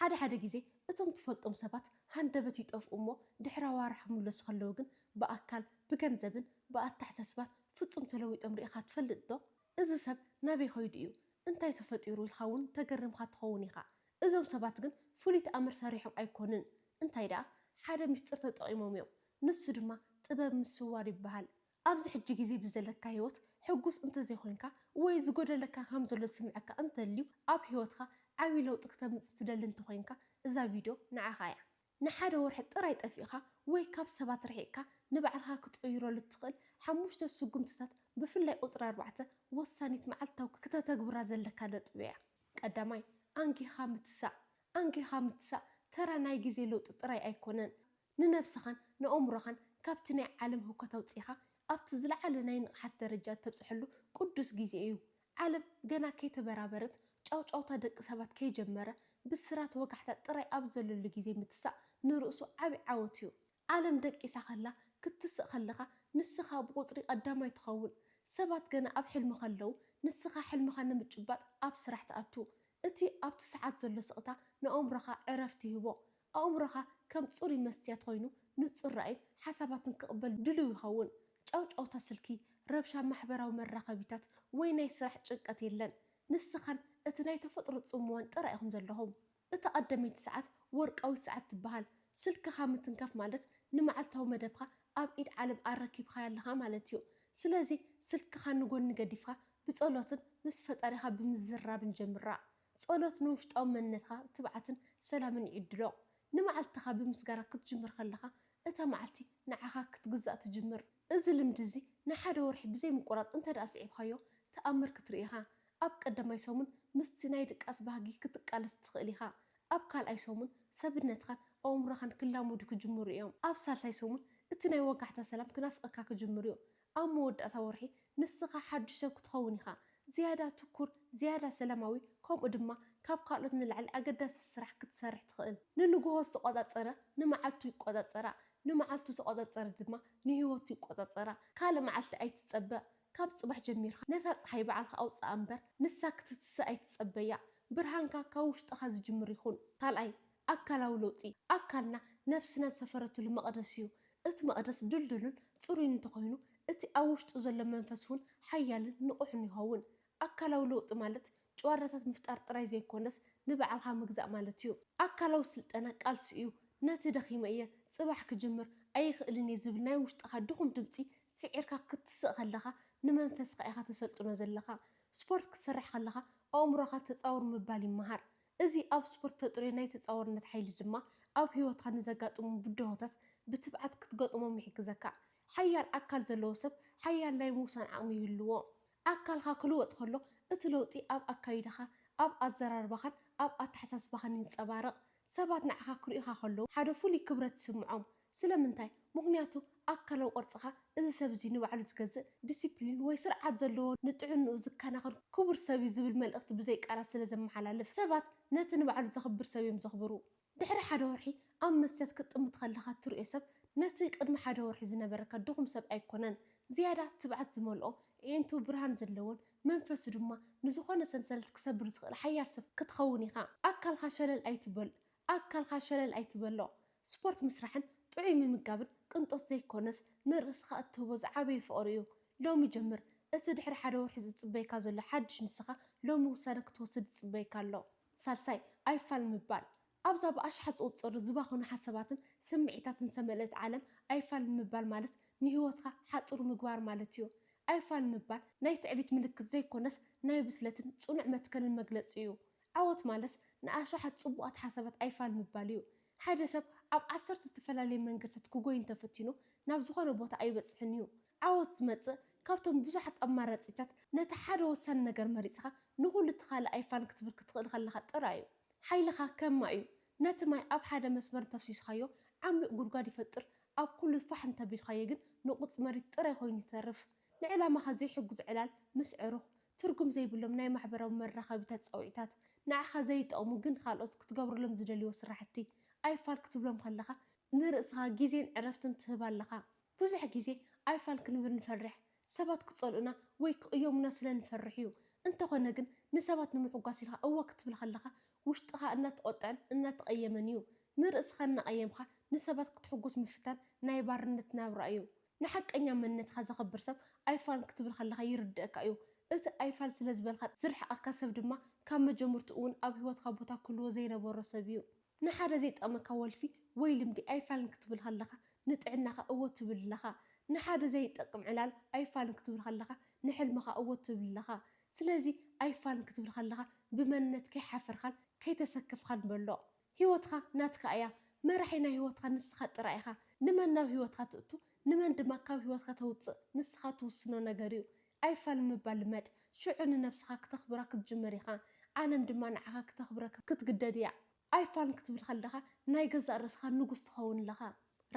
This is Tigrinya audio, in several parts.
ሓደ ሓደ ግዜ እቶም ትፈልጦም ሰባት ሃንደበት ይጠፍኡ እሞ ድሕሪ ኣዋርሕ ክምለሱ ከለዉ ግን ብኣካል፣ ብገንዘብን ብኣተሓሳስባን ፍጹም ተለዊጦም ርኢኻ ትፈልጥ ዶ? እዚ ሰብ ናበይ ከይዱ እዩ? እንታይ ተፈጢሩ? ኢልካ እውን ተገሪምካ ትኸውን ኢኻ። እዞም ሰባት ግን ፍሉይ ተኣምር ሰሪሖም ኣይኮኑን። እንታይ ደኣ ሓደ ምስጢር ተጠቒሞም እዮም። ንሱ ድማ ጥበብ ምስዋር ይበሃል። ኣብዚ ሕጂ ግዜ ብዘለካ ህይወት ሕጉስ እንተዘይኮንካ ወይ ዝጎደለካ ከም ዘሎ ዝስምዐካ እንተልዩ ኣብ ህይወትካ ዓቢ ለውጢ ክተምጽእ ትደሊ እንተኮይንካ እዛ ቪድዮ ንዓካ እያ። ንሓደ ወርሒ ጥራይ ጠፊእካ ወይ ካብ ሰባት ርሒቅካ ንባዕልካ ክትቅይረሉ እትክእል ሓሙሽተ ስጉምትታት ብፍላይ ቁጽሪ ኣርባዕተ ወሳኒት መዓልታዊ ክተተግብራ ዘለካ ነጥቢ እያ። ቀዳማይ፣ ኣንጊካ ምትሳእ። ኣንጊካ ምትሳእ ተራ ናይ ግዜ ለውጢ ጥራይ ኣይኮነን። ንነብስኻን ንኣእምሮኻን ካብቲ ናይ ዓለም ህውከት ኣውጺእኻ ኣብቲ ዝለዓለ ናይ ንቕሓት ደረጃ እተብጽሐሉ ቅዱስ ግዜ እዩ። ዓለም ገና ከይተበራበረት፣ ጫውጫውታ ደቂ ሰባት ከይጀመረ፣ ብስራት ወጋሕታ ጥራይ ኣብ ዘለሉ ግዜ ምትሳእ ንርእሱ ዓቢ ዓወት እዩ። ዓለም ደቂሳ ከላ ክትስእ ከለኻ ንስኻ ብቑጽሪ ቀዳማይ ትኸውን። ሰባት ገና ኣብ ሕልሚ ከለዉ ንስኻ ሕልምኻ ንምጭባጥ ኣብ ስራሕ ትኣቱ። እቲ ኣብቲ ሰዓት ዘሎ ስቕታ ንኣእምሮኻ ዕረፍቲ ይህቦ። ኣእምሮኻ ከም ጽሩይ መስትያት ዀይኑ ንጹር ራእይን ሓሳባትን ክቕበል ድሉው ይኸውን። ጫውጫውታ ስልኪ፣ ረብሻ ማሕበራዊ መራኸቢታት፣ ወይ ናይ ስራሕ ጭንቀት የለን። ንስኻን እቲ ናይ ተፈጥሮ ጽምዋን ጥራይ ኢኹም ዘለኹም። እታ ቀዳመይቲ ሰዓት ወርቃዊት ሰዓት ትበሃል። ስልክኻ ምትንካፍ ማለት ንመዓልታዊ መደብካ ኣብ ኢድ ዓለም ኣረኪብካያ ኣለኻ ማለት እዩ። ስለዚ ስልክኻ ንጐኒ ገዲፍካ ብጸሎትን ምስ ፈጣሪኻ ብምዝርራብን ጀምራ። ጸሎት ንውሽጣዊ መንነትካ ትብዓትን ሰላምን ይዕድሎ። ንመዓልትኻ ብምስጋና ክትጅምር ከለኻ፣ እታ መዓልቲ ንዓኻ ክትግዛእ ትጅምር። እዚ ልምዲ እዚ ንሓደ ወርሒ ብዘይ ምቁራጽ እንተድኣ ስዒብካዮ፣ ተኣምር ክትርኢ ኢኻ። ኣብ ቀዳማይ ሰሙን ምስቲ ናይ ድቃስ ባህጊ ክትቃለስ ትኽእል ኢኻ። ኣብ ካልኣይ ሰሙን ሰብነትካን ኣእምሮኻን ክላመዱ ክጅምሩ እዮም። ኣብ ሳልሳይ ሰሙን እቲ ናይ ወጋሕታ ሰላም ክናፍቐካ ክጅምር እዩ። ኣብ መወዳእታ ወርሒ ንስኻ ሓዱሽ ሰብ ክትኸውን ኢኻ፣ ዝያዳ ትኩር፣ ዝያዳ ሰላማዊ፣ ከምኡ ድማ ካብ ካልኦት ንላዕሊ ኣገዳሲ ስራሕ ክትሰርሕ ትኽእል። ንንግሆ ዝተቖጻጸረ ንመዓልቱ ይቆጻጸራ፣ ንመዓልቱ ዝተቖጻጸረ ድማ ንህይወቱ ይቆጻጸራ። ካልእ መዓልቲ ኣይትጸበ፣ ካብ ጽባሕ ጀሚርካ ነታ ጸሓይ ባዕልኻ ኣውጽኣ እምበር ንሳ ክትትስእ ኣይትጸበያ። ብርሃንካ ካብ ውሽጥኻ ዝጅምር ይኹን። ካልኣይ፣ ኣካላዊ ለውጢ፣ ኣካልና ነፍስና ዝሰፈረትሉ መቕደስ እዩ። እቲ መቕደስ ድልዱልን ጽሩይን እንተኾይኑ፣ እቲ ኣብ ውሽጡ ዘሎ መንፈስ እውን ሓያልን ንቑሕን ይኸውን። ኣካላዊ ለውጢ ማለት ጭዋዳታት ምፍጣር ጥራይ ዘይኮነስ፣ ንባዕልኻ ምግዛእ ማለት እዩ። ኣካላዊ ስልጠና ቃልሲ እዩ። ነቲ ደኺመ እየ፣ ጽባሕ ክጅምር ኣይኽእልን እየ ዝብል ናይ ውሽጥኻ ድኹም ድምጺ ስዒርካ ክትስእ ከለኻ፣ ንመንፈስካ ኢኻ ተሰልጥኖ ዘለኻ። ስፖርት ክትሰርሕ ከለኻ፣ ኣእምሮኻ ተጻወር ምባል ይመሃር። እዚ ኣብ ስፖርት እተጥርዮ ናይ ተጻዋርነት ሓይሊ ድማ፣ ኣብ ህይወትካ ንዘጋጥሙ ብድሆታት ብትብዓት ክትገጥሞም ይሕግዘካ። ሓያል ኣካል ዘለዎ ሰብ ሓያል ናይ ምውሳን ዓቕሚ ይህልዎ። ኣካልካ ክልወጥ ከሎ፣ እቲ ለውጢ ኣብ ኣካይዳኻ፣ ኣብ ኣዘራርባኻን ኣብ ኣተሓሳስባኻን ይንጸባረቕ። ሰባት ንዓኻ ክርእዩኻ ከለዉ፣ ሓደ ፍሉይ ክብረት ይስምዖም። ስለምንታይ? ምኽንያቱ ኣካላዊ ቅርጽኻ እዚ ሰብ እዚ ንባዕሉ ዝገዝእ፣ ዲሲፕሊን ወይ ስርዓት ዘለዎ፣ ንጥዕንኡ ዝከናኸን ክቡር ሰብ እዩ ዝብል መልእኽቲ ብዘይ ቃላት ስለ ዘመሓላልፍ። ሰባት ነቲ ንባዕሉ ዘኽብር ሰብ እዮም ዘኽብሩ። ድሕሪ ሓደ ወርሒ ኣብ መስትያት ክትጥምት ከለኻ እትርእዮ ሰብ ነቲ ቅድሚ ሓደ ወርሒ ዝነበረካ ድኹም ሰብ ኣይኮነን። ዝያዳ ትብዓት ዝመልኦ፣ ኣዒንቱ ብርሃን ዘለወን መንፈሱ ድማ ንዝኾነ ሰንሰለት ክሰብር ዝኽእል ሓያል ሰብ ክትኸውን ኢኻ። ኣካልካ ሸለል ኣይትበል። ኣካልካ ሸለል ኣይትበሎ። ስፖርት ምስራሕን ጥዑይ ምምጋብን ቅንጦት ዘይኮነስ ንርእስኻ እትህቦ ዝዓበየ ፍቕሪ እዩ። ሎሚ ጀምር። እቲ ድሕሪ ሓደ ወርሒ ዝጽበየካ ዘሎ ሓድሽ ንስኻ ሎሚ ውሳነ ክትወስድ ይጽበየካ ኣሎ። ሳልሳይ፣ ኣይፋል ምባል። ኣብዛ ብኣሽሓት ዝቑጸሩ ዝባኸኑ ሓሳባትን ስምዒታትን ዝተመልእት ዓለም ኣይፋል ምባል ማለት ንህይወትካ ሓጹር ምግባር ማለት እዩ። ኣይፋል ምባል ናይ ትዕቢት ምልክት ዘይኮነስ ናይ ብስለትን ጽኑዕ መትከልን መግለጺ እዩ። ዓወት ማለት ንኣሽሓት ጽቡቓት ሓሳባት ኣይፋል ምባል እዩ። ሓደ ሰብ ኣብ ዓሰርተ እተፈላለየ መንገድታት ክጎዪ እንተ ፈቲኑ፣ ናብ ዝዀነ ቦታ ኣይበጽሕን እዩ። ዓወት ዝመጽእ ካብቶም ብዙሓት ኣማራጺታት ነቲ ሓደ ወሳኒ ነገር መሪጽካ ንዅሉ እቲ ካልእ ኣይፋል ክትብል ክትኽእል ከለኻ ጥራይ እዩ። ሓይልኻ ከም ማይ እዩ። ነቲ ማይ ኣብ ሓደ መስመር እንተ ኣፍሲስካዮ፣ ዓሚቝ ጕድጓድ ይፈጥር፣ ኣብ ኵሉ ፋሕ እንተ ኣቢልካዮ ግን ንቝጽ መሬት ጥራይ ኰይኑ ይተርፍ። ንዕላማኻ ዘይሕግዙ ዕላል ምስ ዕሩኽ፣ ትርጉም ዘይብሎም ናይ ማሕበራዊ መራኸቢታት ጸውዒታት፣ ንዓኻ ዘይጠቕሙ ግን ካልኦት ክትገብረሎም ዝደልይዎ ስራሕቲ፣ ኣይፋል ክትብሎም ከለኻ ንርእስኻ ግዜን ዕረፍትን ትህብ ኣለኻ። ብዙሕ ግዜ ኣይፋል ክንብል ንፈርሕ፣ ሰባት ክጸልኡና ወይ ክቕየሙና ስለ ንፈርሕ'ዩ። እንተኾነ ግን ንሰባት ንምሕጓስ ኢልካ እወ ክትብል ከለኻ ውሽጥኻ እናተቖጥዐን እናተቐየመን'ዩ። ንርእስኻ እናቐየምካ ንሰባት ክትሕጉስ ምፍታን ናይ ባርነት ናብራ'ዩ። ንሓቀኛ መንነትካ ዘኽብር ሰብ ኣይፋል ክትብል ከለኻ ይርድኣካ እዩ። እቲ ኣይፋል ስለ ዝበልካ ዝርሕቐካ ሰብ ድማ ካብ መጀምርትኡ'ውን ኣብ ህይወትካ ቦታ ክህልዎ ዘይነበሮ ሰብ እዩ። ንሓደ ዘይጠቕመካ ወልፊ ወይ ልምዲ ኣይፋል ክትብል ከለኻ ንጥዕናኻ እወ ትብል ኣለኻ። ንሓደ ዘይጠቅም ዕላል ኣይፋል ክትብል ከለኻ ንሕልምኻ እወ ትብል ኣለኻ። ስለዚ ኣይፋል ክትብል ከለኻ ብመንነት ከይሓፈርካን ከይተሰከፍካን በሎ። ህይወትካ ናትካ እያ፣ መራሒ ናይ ህይወትካ ንስኻ ጥራይ ኢኻ። ንመን ናብ ህይወትካ ትእቱ ንመን ድማ ካብ ህይወትካ ተውጽእ ንስኻ ትውስኖ ነገር እዩ። ኣይፋል ምባል ልመድ፣ ሽዑ ንነብስኻ ክተኽብራ ክትጅምር ኢኻ፣ ዓለም ድማ ንዓኻ ክተኽብረካ ክትግደድ እያ። ኣይፋል ክትብል ከለኻ ናይ ገዛእ ርእስኻ ንጉስ ትኸውን ኣለኻ።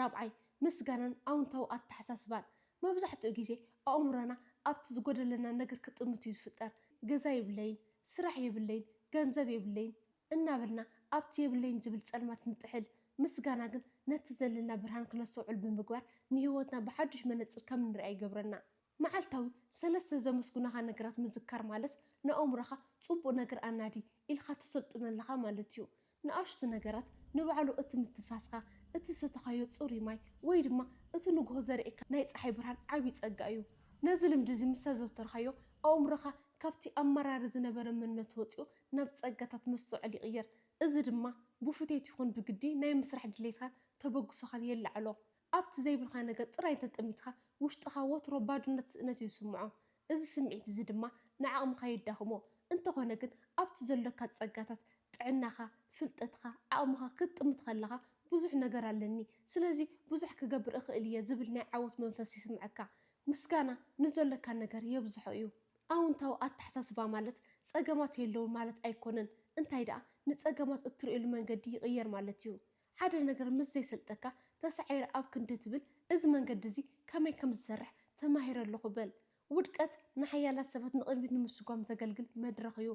ራብዓይ፣ ምስጋናን ኣውንታዊ ኣተሓሳስባን። መብዛሕትኡ ግዜ ኣእምሮና ኣብቲ ዝጎደለና ነገር ክጥምት እዩ ዝፍጠር። ገዛ የብለይን፣ ስራሕ የብለይን፣ ገንዘብ የብለይን፣ እናበልና ኣብቲ የብለይን ዝብል ጸልማት ንጥሕል፣ ምስጋና ግን ነቲ ዘለና ብርሃን ክነስተውዕል ብምግባር ንህይወትና ብሓዱሽ መነጽር ከም እንርእያ ይገብረና። መዓልታዊ ሰለስተ ዘመስጉናኻ ነገራት ምዝካር ማለት ንኣእምሮኻ ጽቡቕ ነገር ኣናዲ ኢልካ ተሰልጥኖ ኣለኻ ማለት እዩ። ንኣሽቱ ነገራት ንባዕሉ እቲ ምትንፋስካ፣ እቲ ዝሰተኻዮ ጽሩይ ማይ ወይ ድማ እቲ ንጉሆ ዘርእየካ ናይ ጸሓይ ብርሃን ዓቢ ጸጋ እዩ። ነዚ ልምዲ እዚ ምስ ኣዘውተርካዮ ኣእምሮኻ ካብቲ ኣብ መራር ዝነበረ መንነቱ ወጺኡ ናብ ጸጋታት መስተውዐል ይቕየር። እዚ ድማ ብፉቴት ይኹን ብግዲ ናይ ምስራሕ ድሌትካን ተበግሶኻን የላዕሎ። ኣብቲ ዘይብልካ ነገር ጥራይ እንተ ጠሚትካ ውሽጥኻ ወትሮ ባዶነት ስእነት እዩ ዝስምዖ። እዚ ስምዒት እዚ ድማ ንዓቕምኻ የዳኽሞ። እንተኾነ ግን ኣብቲ ዘሎካ ጸጋታት፣ ጥዕናኻ፣ ፍልጠትካ፣ ዓቕምኻ፣ ክትጥምት ከለኻ ብዙሕ ነገር ኣለኒ ስለዚ ብዙሕ ክገብር እኽእል እየ ዝብል ናይ ዓወት መንፈስ ይስምዐካ። ምስጋና ንዘሎካ ነገር የብዝሖ እዩ። ኣውንታዊ ኣተሓሳስባ ማለት ጸገማት የለዉን ማለት ኣይኮነን እንታይ ደኣ ንጸገማት እትርእየሉ መንገዲ ይቕየር ማለት እዩ። ሓደ ነገር ምስ ዘይሰልጠካ ተሳዒረ ኣብ ክንዲ ትብል እዚ መንገዲ እዚ ከመይ ከም ዝሰርሕ ተማሂረ ኣለኹ በል። ውድቀት ንሓያላት ሰባት ንቕድሚት ንምስጓም ዘገልግል መድረኽ እዩ።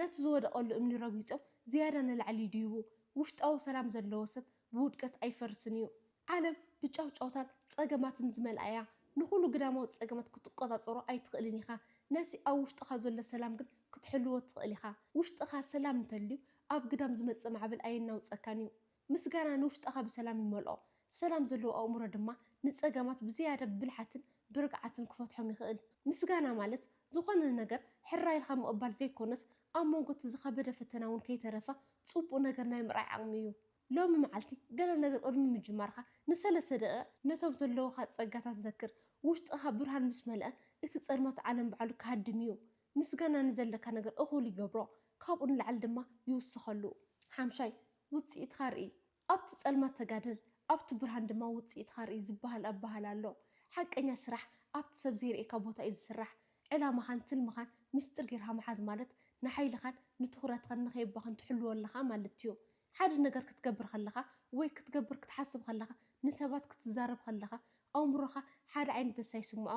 ነቲ ዝወደቐሉ እምኒ ረጊጾም ዝያዳ ንላዕሊ ይድይቡ። ውሽጣዊ ሰላም ዘለዎ ሰብ ብውድቀት ኣይፈርስን እዩ። ዓለም ብጫውጫውታን ጸገማትን ዝመልኣ እያ። ንኹሉ ግዳማዊ ጸገማት ክትቆጻጸሮ ኣይትኽእልን ኢኻ፣ ነቲ ኣብ ውሽጥኻ ዘሎ ሰላም ግን ክትሕልዎ ትኽእል ኢኻ። ውሽጥኻ ሰላም እንተልዩ፣ ኣብ ግዳም ዝመጽእ ማዕበል ኣየናውጸካን እዩ። ምስጋና ንውሽጥኻ ብሰላም ይመልኦ። ሰላም ዘለዎ ኣእምሮ ድማ ንጸገማት ብዝያዳ ብብልሓትን ብርግዓትን ክፈትሖም ይኽእል። ምስጋና ማለት ዝኾነ ነገር ሕራይ ኢልካ ምቕባል ዘይኮነስ፣ ኣብ መንጎ እቲ ዝኸበደ ፈተና እውን ከይተረፈ ጽቡቕ ነገር ናይ ምርኣይ ዓቕሚ እዩ። ሎሚ መዓልቲ ገለ ነገር ቅድሚ ምጅማርካ ንሰለስተ ደቒቕ ነቶም ዘለዉኻ ጸጋታት ዘክር። ውሽጥኻ ብርሃን ምስ መልኣ እቲ ጸልማት ዓለም ባዕሉ ክሃድም እዩ። ምስጋና ንዘለካ ነገር እኹል ይገብሮ፣ ካብኡ ንላዕሊ ድማ ይውስኸሉ። ሓምሻይ፣ ውጽኢትካ ርኢ። ኣብቲ ጸልማት ተጋደል፣ ኣብቲ ብርሃን ድማ ውጽኢትካ ርኢ ዝበሃል ኣበሃህላ ኣሎ። ሓቀኛ ስራሕ ኣብቲ ሰብ ዘይርእየካ ቦታ እዩ ዝስራሕ። ዕላማኻን ትልምኻን ምስጢር ጌርካ ምሓዝ ማለት ንሓይልኻን ንትኹረትኻን ንኸየባኽን ትሕልዎ ኣለኻ ማለት'ዩ። ሓደ ነገር ክትገብር ከለኻ ወይ ክትገብር ክትሓስብ ከለኻ፣ ንሰባት ክትዛረብ ከለኻ፣ ኣእምሮኻ ሓደ ዓይነት ደስታ ይስምዖ።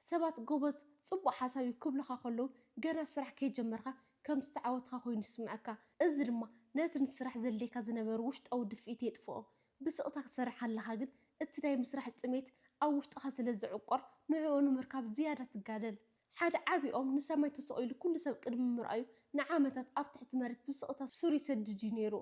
ሰባት ጎበዝ፣ ጽቡቕ ሓሳብ እዩ ክብሉኻ ከለዉ፣ ገና ስራሕ ከይጀመርካ ከም ዝተዓወትካ ኮይኑ ይስምዓካ። እዚ ድማ ነቲ ንስራሕ ዘድልየካ ዝነበረ ውሽጣዊ ድፍኢት የጥፍኦ። ብስቕታ ክትሰርሕ ከለኻ ግን፣ እቲ ናይ ምስራሕ ጥሜት ኣብ ውሽጥኻ ስለ ዝዕቆር፣ ንዕኡ ንምርካብ ዝያዳ ትጋደል። ሓደ ዓቢ ኦም ንሰማይ ተሰቒሉ ኵሉ ሰብ ቅድሚ ምርኣዩ፣ ንዓመታት ኣብ ትሕቲ መሬት ብስቕታ ሱር ይሰድድ እዩ ነይሩ።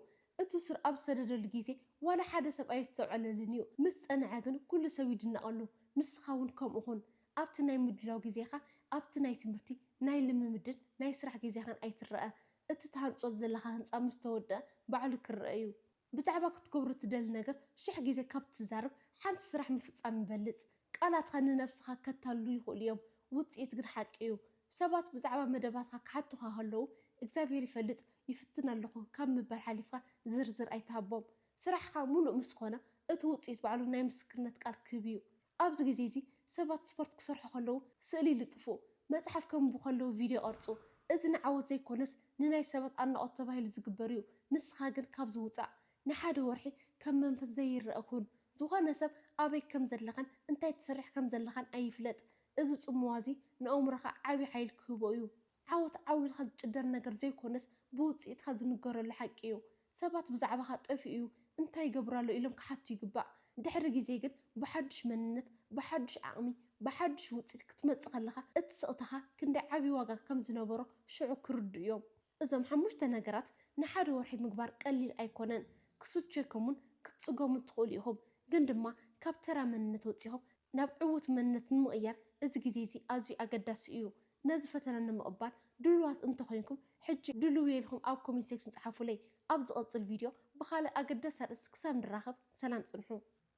እቲ ሱር ኣብ ዝሰደደሉ ግዜ፣ ዋላ ሓደ ሰብ ኣየስተውዐለሉን እዩ። ምስ ጸንዐ ግን ኵሉ ሰብ ይድነቐሉ። ንስኻ እውን ከምኡ ኹን። ኣብቲ ናይ ምድላው ግዜኻ፣ ኣብቲ ናይ ትምህርቲ፣ ናይ ልምምድን ናይ ስራሕ ግዜኻን ኣይትረኣ። እቲ ትሃንጾ ዘለኻ ህንጻ ምስ ተወድኣ ባዕሉ ክርኣ እዩ። ብዛዕባ ክትገብሮ እትደሊ ነገር ሽሕ ግዜ ካብ እትዛረብ፣ ሓንቲ ስራሕ ምፍጻም ይበልጽ። ቃላትካ ንነብስኻ ከታልሉ ይኽእሉ እዮም፣ ውጽኢት ግን ሓቂ እዩ። ሰባት ብዛዕባ መደባትካ ክሓቱኻ ከለዉ፣ እግዚኣብሄር ይፈልጥ፣ ይፍትን ኣለኹ ካብ ምባል ሓሊፍካ ዝርዝር ኣይትሃቦም። ስራሕካ ምሉእ ምስ ኰነ፣ እቲ ውጽኢት ባዕሉ ናይ ምስክርነት ቃል ክህብ እዩ። ኣብዚ ግዜ እዚ ሰባት ስፖርት ክሰርሑ ከለዉ ስእሊ ይልጥፉ፣ መጽሓፍ ከንብቡ ከለዉ ቪድዮ ይቐርጹ። እዚ ንዓወት ዘይኮነስ ንናይ ሰባት ኣድናቖት ተባሂሉ ዝግበር እዩ። ንስኻ ግን ካብዚ ውጻእ። ንሓደ ወርሒ ከም መንፈስ ዘይርኣ ኩን። ዝኾነ ሰብ ኣበይ ከም ዘለኻን እንታይ ትሰርሕ ከም ዘለኻን ኣይፍለጥ። እዚ ጽምዋ እዚ ንኣእምሮኻ ዓቢ ሓይሊ ክህቦ እዩ። ዓወት ዓው ኢልካ ዝጭደር ነገር ዘይኮነስ ብውጽኢትካ ዝንገረሉ ሓቂ እዩ። ሰባት ብዛዕባኻ ጠፊኡ'ዩ፣ እንታይ ይገብር ኣሎ ኢሎም ክሓቱ ይግባእ። ድሕሪ ግዜ ግን ብሓዱሽ መንነት፣ ብሓዱሽ ዓቕሚ፣ ብሓዱሽ ውጽኢት ክትመጽእ ከለኻ እቲ ስቕታኻ ክንደይ ዓቢ ዋጋ ከም ዝነበሮ ሽዑ ክርድኡ'ዮም። እዞም ሓሙሽተ ነገራት ንሓደ ወርሒ ምግባር ቀሊል ኣይኮነን። ክስልቸኩምን ክትጽገሙን ትኽእሉ ኢኹም፣ ግን ድማ ካብ ተራ መንነት ወጺኹም ናብ ዕዉት መንነት ንምቕያር እዚ ግዜ'ዚ ኣዝዩ ኣገዳሲ እዩ። ነዚ ፈተነ ንምቕባል ድሉዋት እንተኾይንኩም ሕጂ ድሉውየ ኢልኩም ኣብ ኮሜንት ሴክሽን ጽሓፉለይ። ኣብ ዝቕጽል ቪድዮ ብኻልእ ኣገዳሲ ኣርእስቲ ክሳብ ንራኸብ ሰላም ጽንሑ።